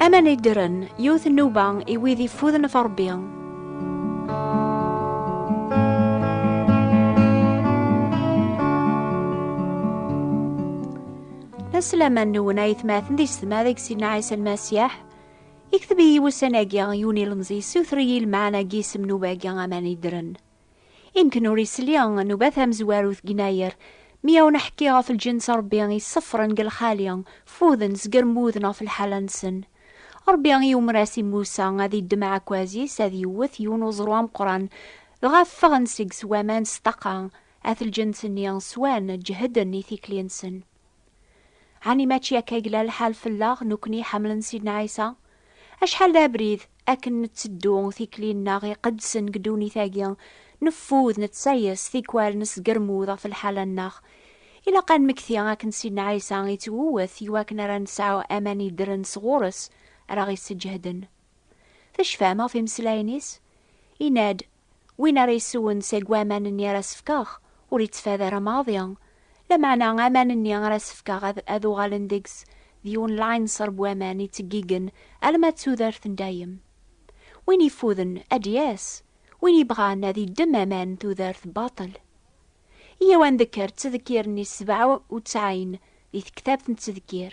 Aman iddren, yiwet nnuba i wid ifuden ɣef Ṛebbi. Asalaman nwen ay tmaten di setma deg Sidna Ɛisa Lmasiyaḥ. Ikteb-iyi wussan-agi yiwen ilemẓi yessiwter-iyi lmeɛna n yisem n ubagi aman iddren. Imken ur isli, nubat amezwaru deg yennayer, mi awen aḥekki ɣef lǧenn s Rebbi yessefren deg lxali, fuden zger mmuden ɣef lḥala nsen. Rebbi yumer as i Musa ad iddem aɛekkaz is ad yewwet yiwen uẓru ameqqran, dɣa ffɣen seg s waman s ṭṭaqa, at lǧenn s nni swan, ǧehden i tikli nsen. Ɛni mačči akka i yella lḥal fell-aɣ nekkni iḥemmlen Sidna Ɛisa? Acḥal d abrid akken netteddu tikli-nneɣ iqedsen deg ddunit-agi, neffud, nettsayes, tikwal nesgermud ɣef lḥala-nneɣ. Ilaq ad nmekti akken Sidna Ɛisa ittwewwet i wakken ara nesɛu aman yeddren sɣur-s ara ɣ-isseǧehden. Tecfam ɣef imeslayen-is? Yenna-d, Win ara yeswen seg waman-nni ara s-fkeɣ, ur yettfad ara maḍi. Lameɛna aman-nni ara s-fkeɣ ad uɣalen deg-s d yiwen lɛinṣer n waman yettgeggigen alamma d tudert n dayem. Win yeffuden, ad d-yas. Win yebɣan, ad yeddem aman n tudert baṭel. Iyyaw ad ndekker ttdekkir-nni sebɛa u tesɛin di tektabt n ttdekkir.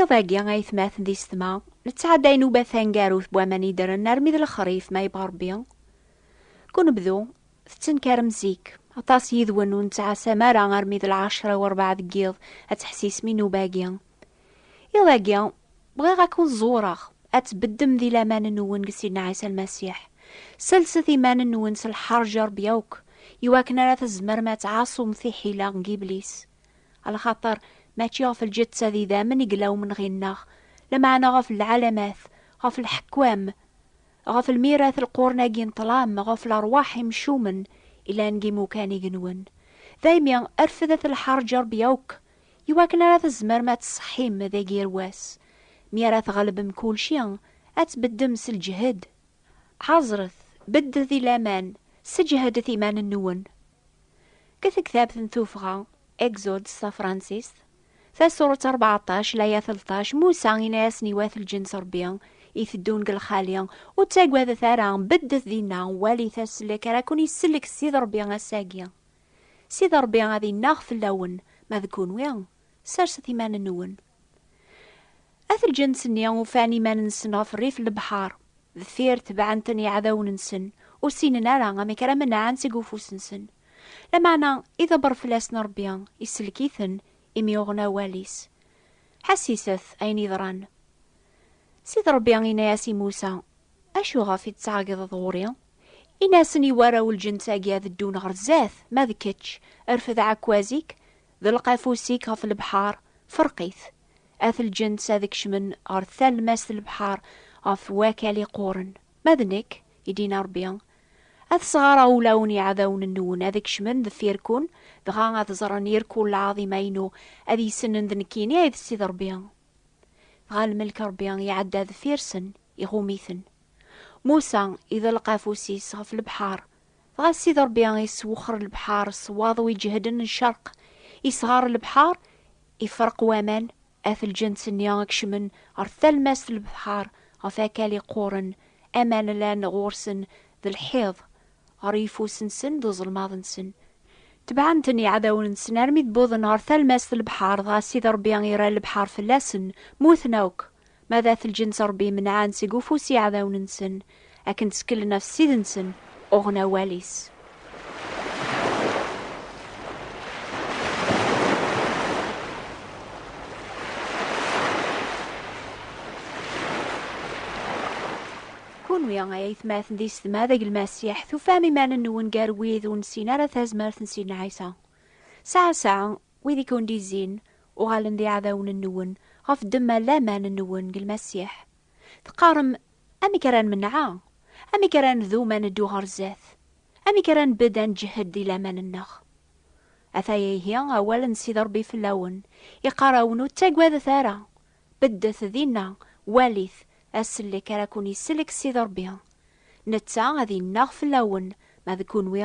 Iḍ-agi, aytmaten d isetma nettɛadda inuba tangarut n waman yeddren armi d lexrif ma yebɣa Rebbi. Deg unebdu, tettenkarem zik. Aṭas yid-wen ur nettɛasam ara armi d lɛecra u rebɛa deg yiḍ ad teḥsisem inuba-agi. Iḍ-agi, bɣiɣ ad ken-ẓewreɣ, ad tbeddem di laman-nwen deg Sidna Ɛisa Lmasiḥ. Sellset iman-nwen s lḥerǧ i Rebbi akk, iwakken ara tzemrem ad tɛaṣum tiḥila n Yiblis. Alxaṭer mačči ɣef lǧetta d idammen i yella umenɣi-nneɣ, lameɛna ɣef lɛalamat, ɣef lḥekkam, ɣef lmirat n lqurun-agi n ṭṭlam, ɣef lerwaḥ imcumen yellan deg yimukan igenwen. Daymi, rfed at lḥerǧ Ṛebbi akk, i wakken ara tzemrem ad tṣeḥḥim deg yir wass. Mi ara tɣelbem kulci, ad tbeddem s lǧehd. Ḥaẓret, beddet i laman, sseǧhdet iman-nwen. Deg tektabt n tuffɣa, Exode s tafransist, tasurt rbeɛṭac, laya telṭac, Musa inna-yasen i wat lǧenn s Rebbi i teddun deg lxali, Ur ttagadet ara, beddet dinna, walit aslek ara ken-isellek Ssid Rebbi ass-agi. Ssid Rebbi ad innaɣ fell-awen, ma d kenwi, serset iman-nwen. At lǧens-nni ufan iman-nsen ɣef rrif n lebḥer, deffir tebɛen-ten yiɛdawen-nsen, ur ssinen ara amek ara menɛen seg ufus-nsen. Lameɛna idebber fell-asen Ṛebbi, isellek-iten, imi uɣen awal-is. Ḥesset ayen yeḍran. Sidi Ṛebbi inna-yas i Musa, Acuɣef i d-ttɛeggiḍeḍ ɣur-i? Ini-asen i warraw n lǧens-agi ad ddun ɣer zdat, ma d kečč, rfed aɛekkaz-ik, Ḍelq afus-ik ɣef lebḥar, ferq-it. At lǧens ad kecmen ɣer talmast n lebḥar ɣef wakal iqquren. Ma d nekk, i d-yenna Rebbi, ad sɣareɣ ulawen iɛdawen-nwen ad kecmen deffir-ken, dɣa ad ẓren irkul lɛaḍima-inu, ad yessnen d nekkini ay d Ssid Rebbi. Dɣa lmelk n Rebbi iɛedda deffir-sen, iɣum-iten. Musa iḍelq afus-is ɣef lebḥar, Dɣa Sidi Ṛebbi iswexxer lebḥeṛ s waḍu iǧehden n ccerq, isɣer lebḥeṛ, ifreq waman at lǧens-nni i ikecmen ɣer talmast n lebḥeṛ ɣef akal iqquṛen, aman llan ɣur-sen d lḥiḍ, ɣer yifus-nsen d uẓelmaḍ-nsen. Tebɛen-ten iɛdawen-nsen armi d-wwḍen ɣer talmast n lebḥeṛ, dɣa Sidi Ṛebbi irra lebḥeṛ fell-asen, muten akk. Ma d at lǧens Ṛebbi imenɛen seg ufus iɛdawen-nsen, akken tteklen ɣef Ssid-nsen, uɣen awal-is. Kunwi, ay aytmaten d isetma, deg Lmasiḥ, tufam iman-nwen gar wid ur nessin ara tazmert n Sidna Ɛisa? Saɛa saɛa, Wid i ken-d-izzin, uɣalen d iɛdawen-nwen, ɣef ddemma n laman-nwen deg Lmasiḥ. Teqqarem, Amek ara nmenɛa? Amek ara ndum ad neddu ɣer zdat? Amek ara nbedd ad nǧehed di laman-nneɣ? Ata-ya ihi awal n Sidi Ṛebbi fell-awen, iqqar-awen, Ur ttagadet ara! Beddet dinna, walit, asellek ara ken-isellek Sidi Ṛebbi. Netta ad innaɣ fell-awen, ma d kenwi,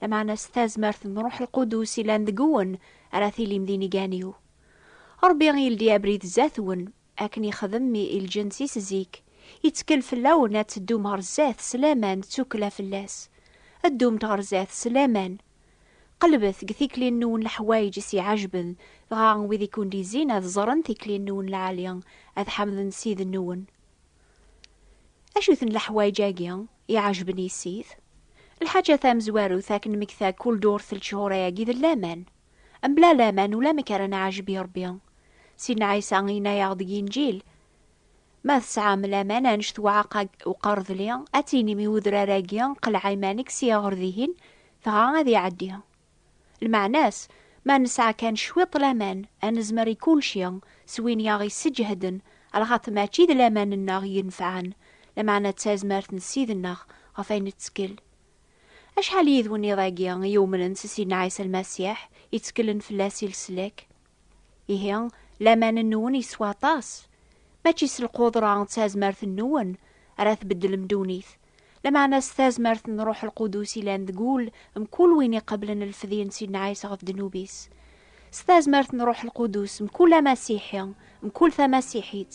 Lameɛna s tazmert n Ruḥ Lqudus yellan deg-wen ara tilim d inigan-iw. Ṛebbi yeldi abrid zdat-wen, akken yexdem mi i lǧens-is zik, yettkel fell-awen ad teddum ɣer zdat s laman d tukkla fell-as. Ddumt ɣer zdat s laman. Qelbet deg tikli-nwen leḥwayeǧ i s-iɛejben, dɣa wid i ken-d-izzin ad ẓren tikli-nwen lɛali, ad ḥemden Ssid-nwen. Acu-ten leḥwayeǧ-agi? Iɛejben yissit. Lḥaǧa tamezwarut akken nmekta kul durt n lechur-agi d laman. Mebla laman ulamek ara nɛejb i Rebbi. Sidna Ɛisa yenna-yaɣ deg Inǧil, Ma tesɛam laman anect uɛeqqa n uqerdli, ad tinim i udrar-agi, Qleɛ iman-ik, sya ɣer dihin, dɣa ad iɛeddi. Lmeɛna-s, ma nesɛa kan cwiṭ laman, ad nezmer i kulci, s win i aɣ-isseǧehden, ar lxaṭ mačči d laman-nneɣ yenfɛen, lameɛna d tazmert n Ssid-nneɣ ɣef ayen nettkel. Acḥal n yidwen iḍ-agi i yumnen s Ssid-nneɣ Ɛisa Lmasiḥ, i tteklen fell-as i leslak? Ihi, laman-nwen yeswa aṭas. Mačči s lqudra d tazmert-nwen ara tbeddlem ddunit, lameɛna s tazmert n Ṛuḥ Lqudus yellan deg wul mkul win iqeblen lfedye n Sidna Ɛisa ɣef ddnub-is. S tazmert n Ṛuḥ Lqudus, mkul Amasiḥi, mkul Tamasiḥit,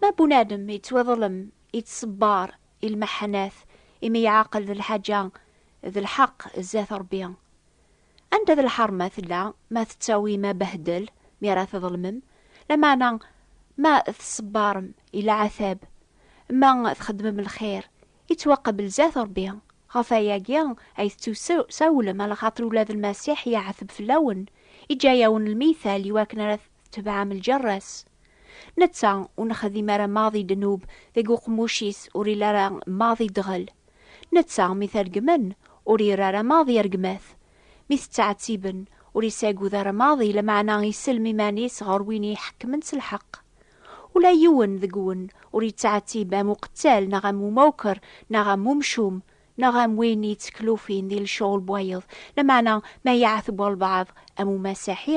Ma bunadem yettwiḍlem, yettṣebbar i lmeḥḥanat imi yeɛqel d lḥaǧa d lḥeqq zdat Ṛebbi. Anda d lḥeṛma tella ma tettawim abehdel mi ara tḍelmem, lameɛna ma tṣebbarem i lɛatab ma txeddmem lxir, yettwaqbel zdat Ṛebbi. Ɣef wayagi ay tettusawlem, alaxaṭer ula d Lmasiḥ yeɛteb fell-awen, yeǧǧa-awen lmital iwakken ara tetebɛem lǧerra-s. Netta ur nexdim ara maḍ i ddnub deg uqemmuc-is ur ili ara maḍ i ddɣel. Netta mi t-regmen ur iri ara maḍ i rregmat. Mi t-ttɛettiben ur isagud ara maḍ i lameɛna isellem iman-is ɣer win i iḥekkmen s lḥeqq. Ula yiwen deg-wen ur yettɛettib am uqettal neɣ am umawker neɣ am umcum neɣ am win yetteklufin di lecɣel n wayeḍ, lameɛna ma iɛetb walbeɛḍ am umasiḥi,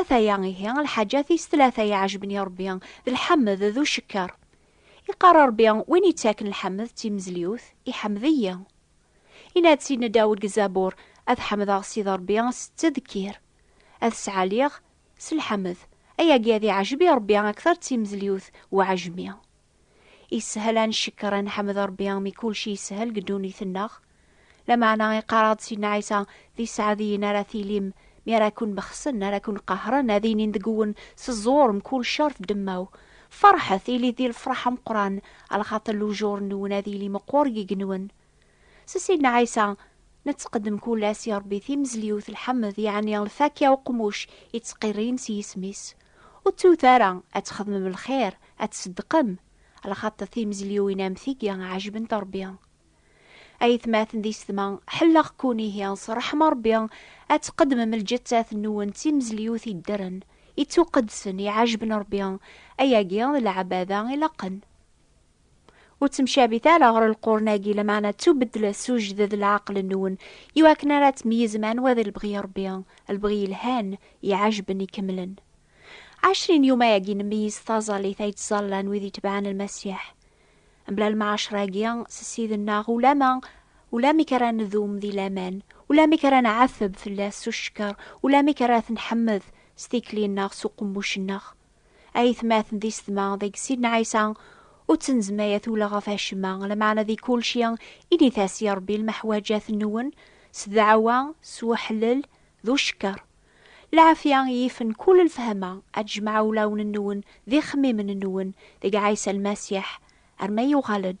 Ataya ihi lḥaǧa tis tlata iɛejben i Rebbi, d lḥemd d ucekker. Iqqar Rebbi, Win ittaken lḥemd d timezliwt, iḥemd-iyi. Yenna-d Sidna Dawed deg Zabur, Ad ḥemdeɣ Sidi Rebbi s ttedkir. Ad t-sɛaliɣ s lḥemd. Ayagi ad iɛejeb i Rebbi akteṛ d timezliwt uɛejmi. Yeshel ad ncekker, ad nḥemmed Rebbi mi kulci yeshel deg ddunit-nneɣ. Lameɛna iqqar-aɣ-d Sidna Ɛisa, D iseɛdiyen ara tilim, mi ara ken-bexsen, ara ken-qehren, ad inin deg-wen, Seẓẓur mkul ccer f ddemma-w! Ferḥet, ilit di lefraḥ ameqqran, a lxaṭer lujur-nwen ad yili meqqur deg yigenwen. S Sidna Ɛisa, nettqeddem kul ass i Ṛebbi timezliwt, lḥemd, yeɛni lfakya uqmuc i ttqiṛṛin s yisem-is. Ur ttut ara ad txedmem lxiṛ, ad tṣeddqem, lxaṭṭ timezliwin am tigi ɛejbent Ṛebbi. A yetmaten d isetma, ḥelleɣ-kkun ihi s ṛṛeḥma Ṛebbi ad tqeddmem lǧettat-nwen d timezliwt yeddren, ittuqeddsen, iɛejben Ṛebbi, ayagi d lɛebada ilaqen. Ur ttemcabit ara ɣer lqurn-agi, lameɛna ttubeddlet s ujded leɛqel-nwen, i wakken ara tmeyyizem anwa d lebɣi n Rebbi, lebɣi yelhan, iɛajben, ikemlen. Ɛecrin yuma-agi nemmeyyiz taẓallit ay ttẓallan wid itebɛen Lmasiḥ. Mebla lemɛacra-agi s Ssid-nneɣ, ulama, ulamek ara nedum di laman, ulamek ara nɛatteb fell-as s ucekker, ulamek ara t-nḥemmed s tikli-nneɣ s uqemmuc-nneɣ. Ayetmaten d isetma deg Sidna Ɛisa ur ttenzmay a tula ɣef acemma, lameɛna di kulci i d-itas i Rebbi lmeḥwaǧat-nwen s ddeɛwa, s weḥlel d ucekker. Lɛafya yifen kul lfehma ad tjemɛ ulawen-nwen d ixemmimen-nwen deg Ɛisa Lmasiḥ, arma yuɣal-d.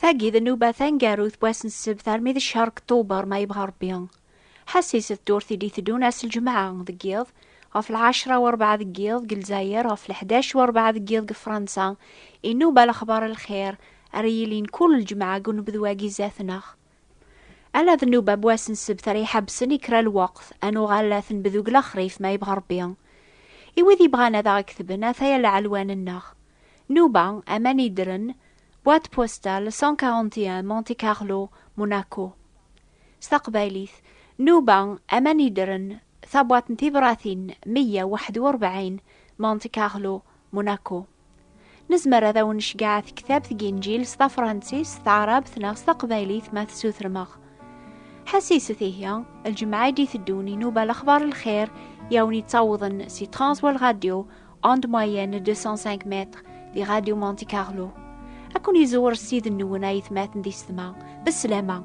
Tagi d nnuba tangarut n wass n ssebt armi d ccehr deg Tuber ma yebɣa Rebbi. Ḥasis d turt i d-iteddun ass n lǧemɛa deg yiḍ ɣef lɛecra u rebɛa deg yiḍ deg Lezzayer ɣef leḥdac u rebɛa deg yiḍ deg Fransa, inuba lexbar n lxir ara yilin kull lǧemɛa deg unebdu-agi zdat-neɣ. Ala d nnuba n wass n ssebt ara iḥabsen i kra lweqt, ad nuɣal ad t-nbed deg lexrif, ma yebɣa Rebbi. I wid yebɣan ad aɣ-ketben, ata-ya lɛelwan-nneɣ. Nnuba, aman yeddren, Boîte postale 141 Monte Carlo, Monaco. S taqbaylit, Nnuba, aman yeddren, Tabwaṭ n tibṛatin meyya weḥd u rebɛin, Monte Carlo, Monaco. Nezmer ad awen necgeɛ tektabt n yinjil s tafṛansis, s taɛrabt neɣ s taqbaylit ma tessutrem-aɣ. Ḥessit-t ihi, lǧemɛa i d-iteddun inuba lexbaṛ n lxiṛ i awen-yettawḍen si Transworld Radio, onde moyenne 205 mètres, di Radio Monte Carlo. Ad ken-iẓewwer Ssid-nwen ayetmaten di setma. Beslama!